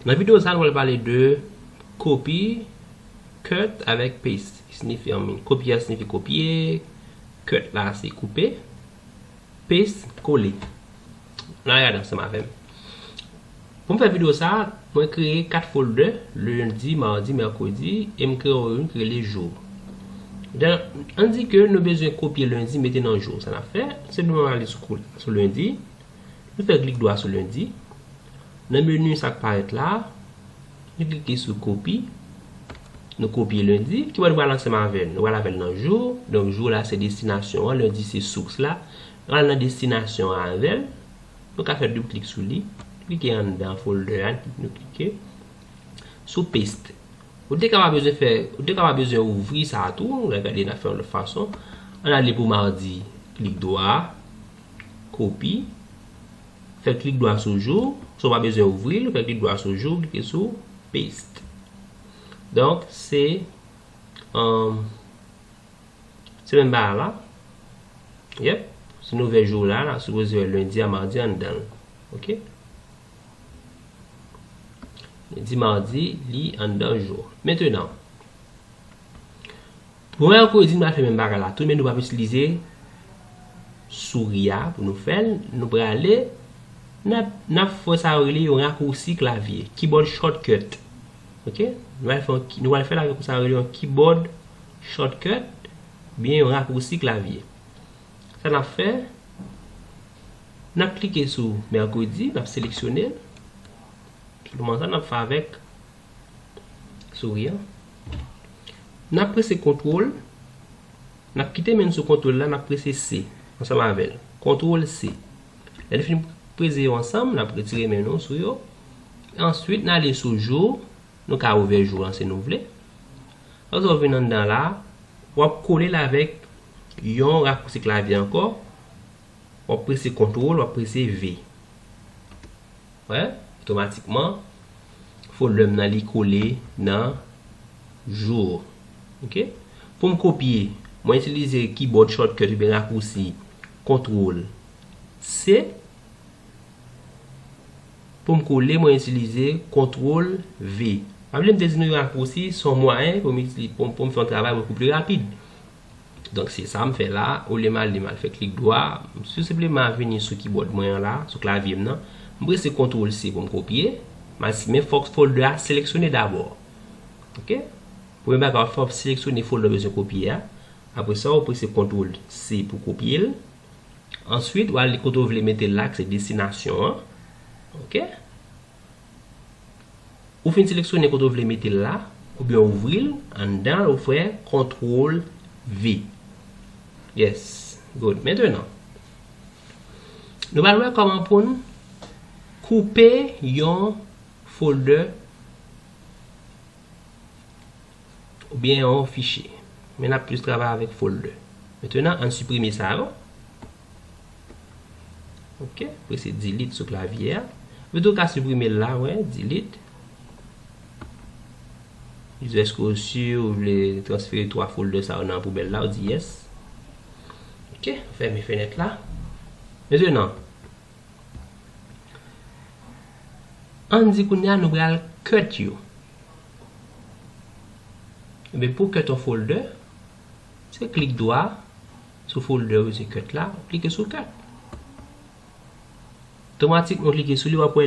Nan video sa nou pral pale de copy, cut avèk paste ki sinifi an min. Copy a sinifi kopye, cut la se koupe, paste kole. N al gade ansanm avèm. Pou m fè video sa, mwen kreye 4 folder, lundi, mardi, mercredi e m kreye youn ki rele jour. Dan, an di ke nou bezwen kopye lundi mete nan jour. Sa n ap fè, se nou ale sou lundi. Nou fè klik dwa sou Lundi. Nan menu sa k parèt la a, nou klike sou Kopi. Nou kopye Lundi. Kibò nou pral ansanm avè l? Nou pral avè l nan Jour. Donk Jour la se destinasyon an, Lundi se source la. Nou pral nan destinasyon an avè l. Nou ka fè doub klik sou li. Klike anndan folder a, nou klike sou Paste. Ou te ka pa bezwen fè, ou te ka pa bezwen ouvri sa a tou. Gade n ap fè yon lòt fason. An n ale pou Mardi, klik dwa. Kopi. Fè klik dwa sou jou. Sa w pa bezwen ouvri l, fè klik dwa sou jou, klike sou Paste. Donk, se Se menm bagay la. Yep. Si nou ouvè jou la, n ap sipoze wè lendi a madi a anndan l. Ok. Lendi, madi, li anndan jou. Mentenan. Mwen an kouzin mwen ap fè menm bagay la tou men nou pap itilize souri a pou nou fèl nou prale nap fè sa yo rele yon rakousi klavye keyboard shortcut ok nou pral fèl avèk sa yo rele yon keyboard shortcut oubyen yon rakousi klavye sa nap fè nap klike sou mèkredi nap seleksyonel se kouman sa nap fè avèk Souri an. N ap prese kontwol. N ap kite men n sou kontwol la, n ap prese se ansanm avè l. Kontwol se. Lè n fin prese yo ansanm, n ap retire men nou sou yo. Answit, n ale sou jou. Nou ka ouvè jou an si nou vle. Apre sa w vin anndan la, w ap kole l avèk yon rakousi klavye ankò. W ap prese kontwol, w ap prese ve. Wè, otomatikman, fo lèm nan li kole nan jour. Ok. Pou m kopye, mwen itilize kibòd shortcut oubyen rakousi Control C. Pou m kole, mwen itilize Control V. Pa bliye m te di nou rakousi son mwayen pou m fè yon travay pou l pi rapid. Donk se sa m fè la, olye m ale m al fè klik dwa, m tou senpleman vini sou kibòd mwen an la, sou klavye m nan, m prese kontwol se pou m kopye, m al si men fòk folder a seleksyone dabò. Ok. Premye bagay w fè w ap seleksyone folder w bezwen kopye a, apre sa w prese kontwol se pou kopye l, answit w al li kote w vle mete l la ki se destinasyon an. Ok. Ou fin seleksyone kote ou vle mete l la, oubyen ou ouvri l, anndan l ou fè kontwol V. Yes, good. Mentenan, nou pral wè kòman pou n koupe yon foldè oubyen yon fichye. Men n ap plis travay avèk foldè. Mentenan, an n siprime sa yo. Ok, prese delete sou klavye a. Ou tou ka siprime l la, wè, delete. Li di eske ou si ou vle transfere 3 folder sa yo nan poubèl la, ou di yes. Ok, fèmen fenèt la. Mezye nan, an di kounye a nou pral cut yo. Ebe pou cut yon folder, se klik dwa. Sou folder yo se cut la, ou klike sou cut. Tomatikman ou klike sou li wap wè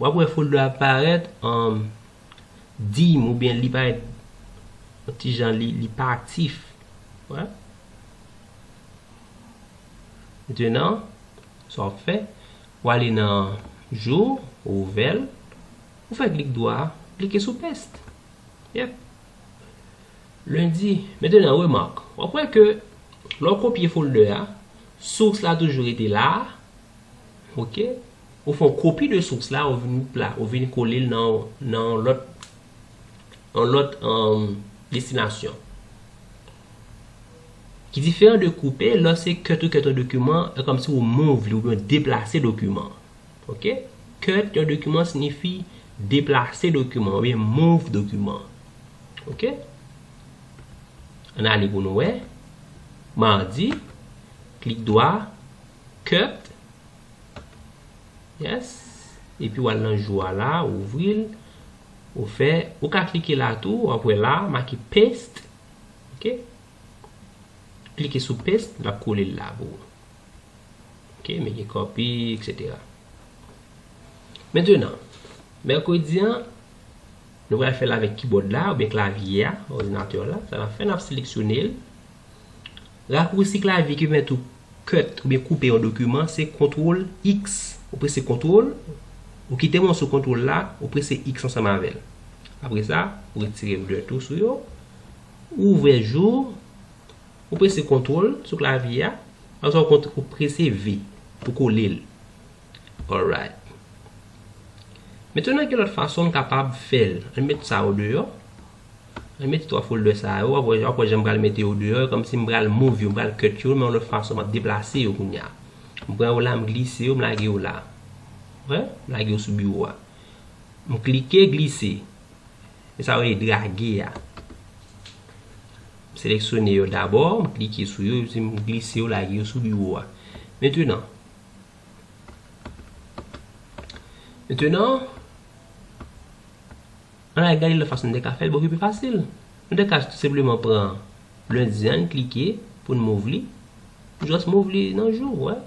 wap wè folder a parèt an dim ou byen li parèt yon ti jan li li pa aktif. Wè? Denan, sa wap fè, wale nan jou, ou ouvèl, ou fè klik dwa, klike sou paste. Yep. Lundi, Mete nan remak, w ap wè ke lè w kopye folder a, source la toujou rete la a, ok, ou fè yon kopi de source la, ou vin la, ou vin kole l nan yon lòt, yon lòt destinasyon. Ki diferan de koupe, lè se cut ou cut yon dokiman, e kòmsi ou move li, ou byen deplase dokiman an. Ok. Cut yon dokiman signifi deplase dokiman an, oubyen move dokiman an. Ok. An n ale pou nou wè. Mardi. Klik dwa. Cut. Yes. E pi w al nan jou a la, ou ouvri l. Ou fè, ou ka klike la tou, w ap wè la, make paste. Ok. Klike sou paste, l ap kole l la pou ou. Ok, mini copy, etc. Mentenan, mèkredi an, nou pral fèl avèk kibòd la, oubyen klavye a, òdinatè la, sa nan fè nan seleksyonel, rakousi klavye ki pèmèt ou cut, oubyen koupe yon dokiman, se kontrol X, ou prese kontrol, ou kite mòso kontrol la, ou prese X ansanm avèl. Apre sa, ou retire blur tou sou yo, ou ouvè jou, Ou prese Kontwol sou klavye a, oswa ou prese V pou kole l. Alright. Mentnan gen lòt fason m kapab fè l. An n met sa o deyò. An n mete 3 folder sa yo. Wap wè jan m pral mete yo deyò. E kòmsi m pral move yo, m pral cut yo men yon lòt fason. M ap deplase yo kounya. M pran yo la, m glise yo, m lage yo la. M lage yo sou biwo a. M klike, glise. E sa yo rele drage a. M seleksyone yo dabò, m klike sou yo epi m glise yo lage yo sou biwo a. Mentenan, mentenan, ann al gade lòt fason nou te ka fè l, bon ki pi fasil. Nou te ka tou senpleman pran lendi an, n klike pou n move li, m jis move li nan jou, wè.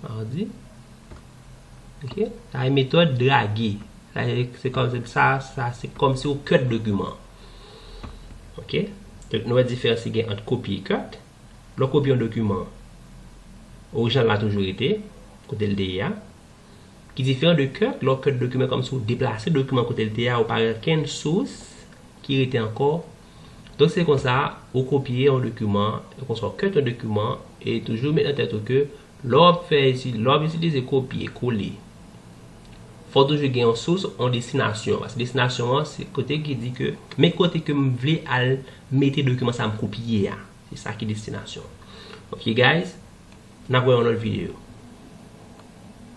Mardi, ok, sa e metòd drage, sa e, se kòm, sa, sa se kòmsi ou kèt dokiman an. Ok Donk nou wè diferans ki gen ant kopye cut Lè w kopye yon dokiman orijinal la toujou rete kote l te ye a ki diferan de cut Lè w cut dokiman kòm si w deplase dokiman kote l te ye a ou pa gen okenn sous ki rete ankò Donk se konsa ou kopye yon dokiman e konsa w cut yon dokiman e toujou met nan tèt ou ke Lè w ap fè etid, lè w ap itilize kopye kole, fò w toujou gen yon sous, yon destinasyon. Paske destinasyon an se kote ki di ke men kote ke m vle al mete dokiman sa a m kopye a. Se sa ki destinasyon. Ok guys, n ap wè yon lòt videyo.